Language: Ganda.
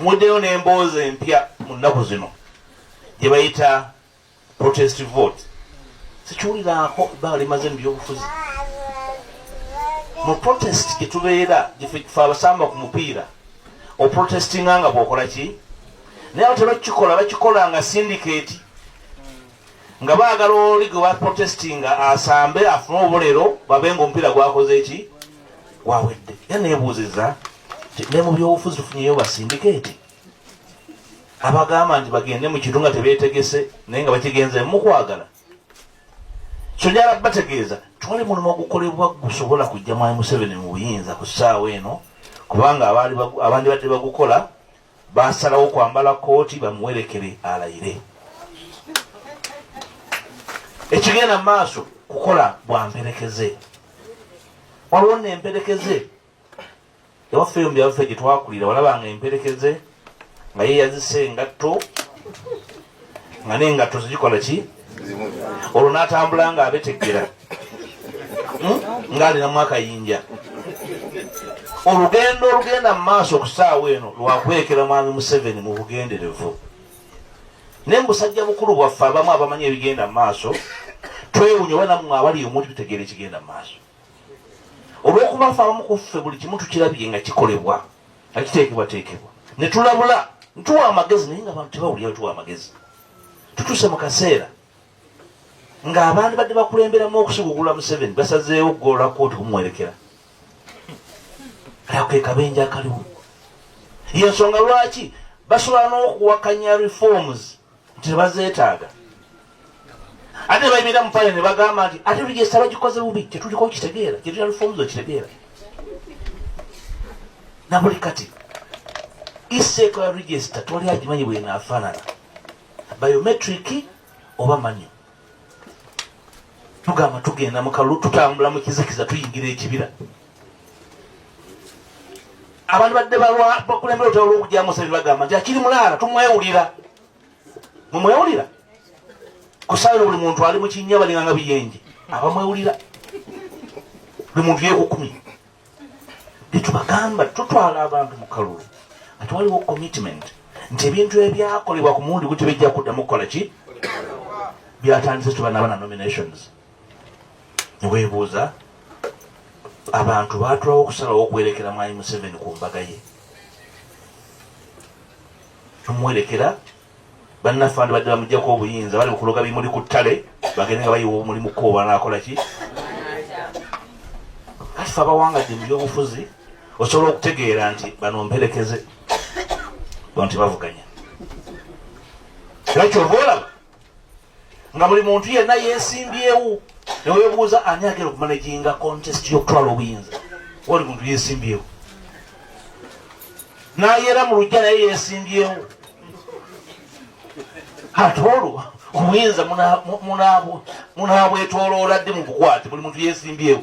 muddeyo n'emboozi empya mu nnaku zino gye bayita protest vote sikiwuliraako ebbanga limaze mu byobufuzi mu protest gye tubeera gyefe abasamba ku mupiira oprotestinga nga bwokola ki naye abo tebakikola bakikola nga sindiketi nga baagala oli gwe baprotestinga asambe afune obulero babe nga omupiira gwakoze ki wawedde era nebuuziza ne mu byobufuzi tufunyeyo basindikeeti abagamba nti bagende mu kintu nga tebeetegese naye nga bakigenze mukwagala kyonyala bategeeza twali mulimu ogukolebwa gusobola kujja mwami museveni mu buyinza ku ssaawa eno kubanga abandi badde bagukola Baasalawo kwambala kkooti bamuwerekere alayire. Ekigenda mu maaso kukola bwa mperekeze. Waliwo nno emperekeze ewaffe eyo mu byaffe gye twakulira walabanga emperekeze nga yeeyazise engatto nga nengatto zigikola ki olwo natambula nga abetegera hmm? nga alinamu akayinja olugendo olugenda mu maaso okusaawa eno lwakwekera mwami museveni mu bugenderevu naye mubusajja bukulu bwaffe abamu abamanyi ebigenda mu maaso twewunya oba namwe abali omuli tutegeera ekigenda mu maaso olwokuba fe abamu ku ffe buli kimu tukirabye nga kikolebwa nga kiteekebwateekebwa ne tulabula ntuwa amagezi naye nga abantu tebawulira tuwa amagezi tutuuse mu kaseera ng'abaandi badde bakulemberamu okusigugula museveni basazeewo okugolola kooti kumuwerekera ako ke kabenja akaliwo yensonga lwaki basobola n'okuwakanya reforms nti tebazeetaaga ate nebayimirira mu pale nebagamba nti ate rigesa bagikoze bubi tetuliko kitegeera kyetulina reforms okitegeera nabuli kati iseeko ya rigesta tewali agimanyi bwenaafaanana biometric oba manyo tugamba tugenda mukalulu tutambula mu kizikiza tuyingira ekibira abantu badde bakulembera otala olwokujamu sebe bagamba nti akiri mulaala tumwewulira mumwewulira kusaaino buli muntu ali mukinya balinganga biyenje abamwewulira buli muntu yekukumye byetubagamba tutwala abantu mukalulu ati waliwo commitment nti ebintu ebyakolebwa ku mulundi guti bijja kuddamu kukola ki byatandise tubanaba na nominations newebuuza abantu batulawo okusalawo okuwerekera mwami museveni ku mbaga ye omuwerekera bannaffe bandibadde bamujjako obuyinza bali mukuloga bimuli ku ttale bagende nga bayiwa omulimu ko banakola ki kati fe abawangadde mu byobufuzi osobola okutegeera nti bano mperekeze bo nti bavuganya era kyova olaba nga buli muntu yenna yesimbyewo newebuuza ani agenda okumanaginga contest yokutwala obuyinza oli muntu yesimbyewo nayera mu lujja naye yesimbyewo ate olwo obuyinza munabwetoloola ddi mu bukwate buli muntu yesimbyewo